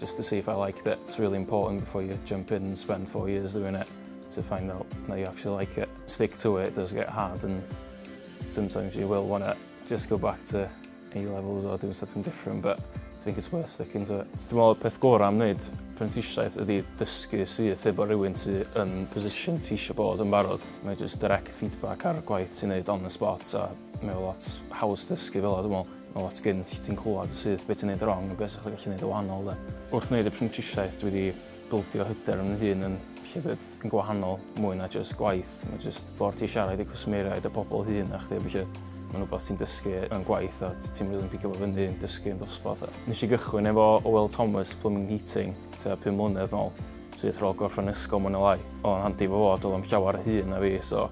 Just to see if I liked it. It's really important before you jump in and spend four years doing it to find out that you actually like it. Stick to it, it does get hard and sometimes you will want to just go back to A-levels or doing something different, but I think it's worth sticking to it. Dwi'n meddwl peth gorau am wneud prentisiaeth ydy dysgu syth efo rhywun sydd yn position ti eisiau bod yn barod. Mae just direct feedback ar y gwaith ti'n neud on the spot a mae lot haws dysgu fel o dwi'n meddwl. Wel at gynt, ti'n clywed syth beth ti'n neud wrong a beth sy'n gallu neud y wahanol de. Wrth wneud y prentisiaeth dwi wedi bildio hyder yn fy hun yn llefydd yn gwahanol mwy na jyst gwaith. Mae jyst ffordd ti siarad i cwsmeriaid a pobl hŷn na chdi a ballu. Mae'n rhywbeth ti'n dysgu yn gwaith a ti'n rili'n pigo fo fyny yn dysgu yn dosbarth. Nes i gychwyn efo Oel Thomas Plumbing Heating tua pum mlynedd nôl syth rôl gorffen ysgol mwy neu lai. Oedd o'n handi fo fod, oedd o'm llawer hŷn na fi so